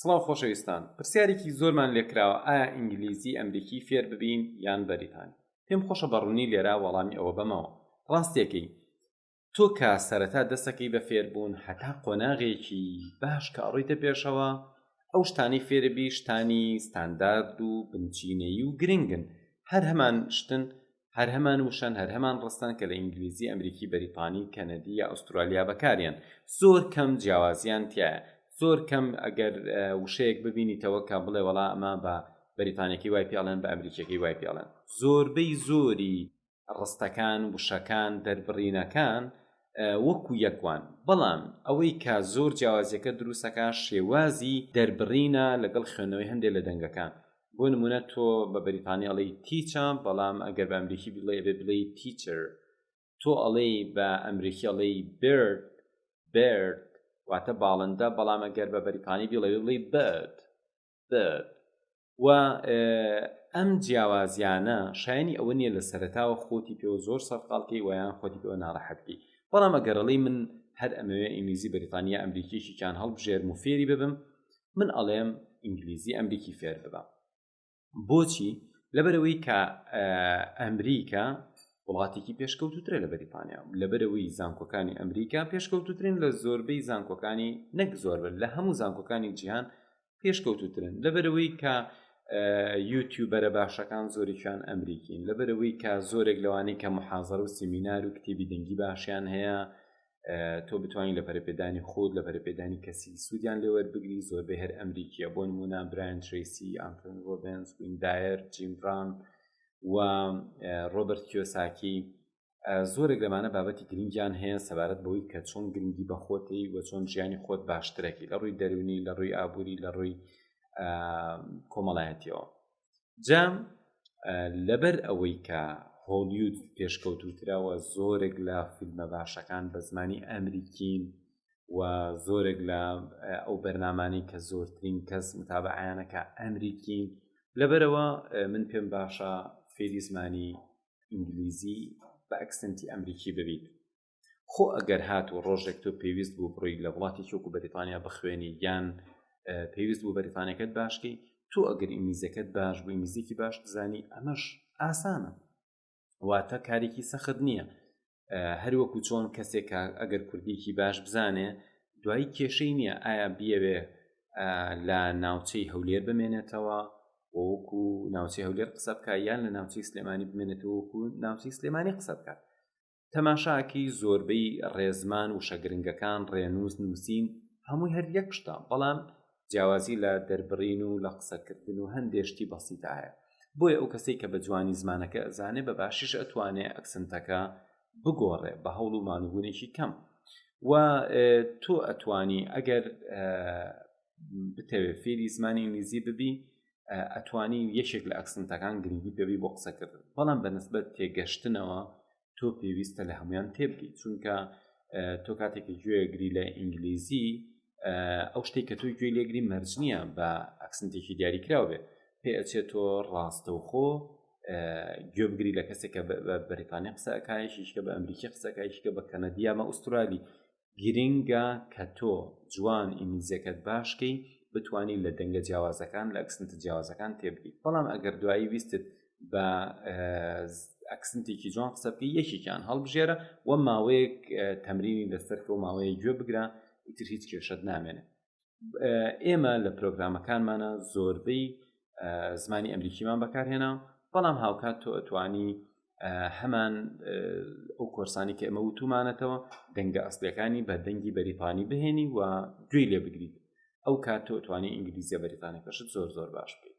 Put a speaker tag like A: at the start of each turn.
A: سڵاو خۆشەویستان پرسیارێکی زۆرمان لێکراوە ئایا ئینگلیزی ئەمریکی فێر ببین یان بەریتانی پێم خۆشە بەڕوونی لێرا وەڵامی ئەوە بەمەوە ڕاستیەکەی تۆ کە سەرەتا دەستەکەی بە فێربوون هەتا قۆناغێکی باش کە ئەڕیتە پێشەوە ئەو شتانی فێربی شتانی ستاندارد و بنچینەیی و گرنگن هەر هەمان شتن هەر هەمان وشەن هەر هەمان ڕستەن کە لە ئینگلیزی ئەمریکی بەریتانی کەنەدی یا ئوسترالیا بەکاریان زۆر کەم جیاوازیان تایە زۆر کەم ئەگەر وشەیەک ببینیتەوە کە بڵێ وەڵا ئەمە بە بەریتانەکەی وای پیاڵێن بە ئەمریکیەکەی وای پیاڵێن زۆربەی زۆری ڕستەکان وشەکان دەربڕینەکان وەکو یەکوان بەڵام ئەوەی کە زۆر جیاوازیەکە دروستەکە شێوازی دەربڕینە لەگەڵ خوێنەوەی هەندێک لە دەنگەکان بۆ نمونە تۆ بە بەریتانی ئەڵێی تیچە بەڵام ئەگەر بە ئەمریکی بڵێ بێ بڵێی تیچر تۆ ئەڵێی بە ئەمریکی ئەڵێی برد برد واتە باڵندە بەڵام ئەگەر بە بەریتانی بڵێ بڵێی برد برد و ئەم جیاوازیانە شایانی ئەوە نییە لە سەرتاوە خۆتی پێوە زۆر سەرقالکەی ویان خۆتی پێوە ناڕەحەتبی بەڵام ئەگەرڵی من هەر ئەمەوێ ئینگلیزی بەریتانیا ئەمریکیشیان هەڵبژێرم و فێری ببم من ئەڵێم ئینگلیزی ئەمریکی فێر ببە بۆچی لەبەرەوەی کە ئەمریکا وڵاتێکی پێشکەوتوترە لە بەریتانیا لەبەرەوەی زانکۆکانی ئەمریکا پێشکەوتوترین لە زۆربەی زانکۆکانی نەک زۆربن لە هەموو زانکۆکانی جیهان پێشکەوتوترن لەبەرەوەی کە یوتیوبەرە باشەکان زۆریان ئەمریکین لەبەرەوەی کە زۆرێک لەوانی کە محازر و سیمینار و کتێبی دەنگی باشیان هەیە تۆ بتوانین لە پەرپێدانی خۆت لە پەرپێدانی کەسی سوودیان لێوە بگری زۆربەی هەر ئەمریکیە بۆ نمونە براند تریسی ئەمپن ڕۆبنس ویندایەر جیمڕان و ڕۆبرت کیۆساکی زۆرێک لەمانە بابەتی گرنگیان هەیە سەبارەت بەوەی کە چۆن گرنگی بەخۆتی و چۆن ژیانی خۆت باشترەکی لە ڕووی دەرونی لە ڕووی ئابووری لە ڕووی کۆمەڵایەتیەوە جام لەبەر ئەوەی کە هۆلیود پێشکەوتوتراوە زۆرێک لە فیلمە باشەکان بە زمانی ئەمریکین و زۆرێک لە ئەو بەرنامانی کە زۆرترین کەس متابعیانەکە ئەمریکین لەبەرەوە من پێم باشە فێری زمانی ئینگلیزی بە ئەکسنتی ئەمریکی ببیت خۆ ئەگەر هات و ڕۆژێک تۆ پێویست بوو بڕۆی لە وڵاتی چۆک و بەریتانیا بخوێنی یان پێویست بوو بەریتانەکەت باشکەی تۆ ئەگەر ئینگلیزەکەت باش بوو ئینگلیزیکی باش بزانی ئەمەش ئاسانە واتە کارێکی سەخت نییە هەروەکو چۆن کەسێک ئەگەر کوردیکی باش بزانێ دوایی کێشەی نییە ئایا بیەوێ لە ناوچەی هەولێر بمێنێتەوە وەکو ناوچەی هەولێر قسە بکە یان لە ناوچەی سلێمانی بمێنێتەوەکو ناوچەی سلێمانی قسە بکات تەماشاکی زۆربەی ڕێزمان وشە گرنگەکان ڕێنووس نووسین هەمووی هەر یەک شتە بەڵام جیاوازی لە دەربڕین و لە قسەکردن و هەندێشتی بەسیدا هەیە بۆیە ئەو کەسێک کە بە جوانی زمانەکە ئەزانێ بە باشیش ئەتوانێ ئەکسنتەکە بگۆڕێ بە هەوڵ و مانوبوونێکی کەم و تۆ ئەتوانی ئەگەر بتەوێت فێری زمانی ئینگلیزی ببی ئەتوانی یەکێک لە ئەکسنتەکان گرنگی پێوی بۆ قسەکردن بەڵام بە نسبەت تێگەشتنەوە تۆ پێویستە لە هەمویان تێبگەیت چونکە تۆ کاتێکی گوێگری لە ئینگلیزی ئەو شتێک کە تۆی گوێ لێگری مەرج نییە بە ئەکسنتێکی دیاریکراو بێت پێ ئەچێت تۆ ڕاستەوخۆ گوێبگری لە کەسێکە بەریتانیا قسەکایشیشکە بە ئەمریکی قسەکایشکە بە کەنەدیامە ئوسترالی گرنگە کە تۆ جوان ئینگلیزیەکەت باشکەی بتانی لە دەنگە جیاوازەکان لە ئەکسنت جیاوازەکان تێبگی بەڵام ئەگەر دوایی ویستت بە ئەکسنتێکی جوان قسە بکە یەکێکیان هەڵبژێرە و ماوەیەک تەمرینی لەسەر کە و ماوەیە گوێ بگرە ئیتر هیچ کێشت نامێنێت ئێمە لە پرۆگرامەکانمانە زۆربەی زمانی ئەمریکیمان بەکارهێنا بەڵام هاوکات تۆ ئەتوانی هەمان ئەو کۆرسانی کە ئەمە وتومانەتەوە دەنگە ئەسلەکانی بە دەنگی بەریتانی بهێنی و گوێی لێ بگریت ئەو کات تۆ توانی ئینگلیزیە بەریتانەکەشت زۆر زۆر باش بێت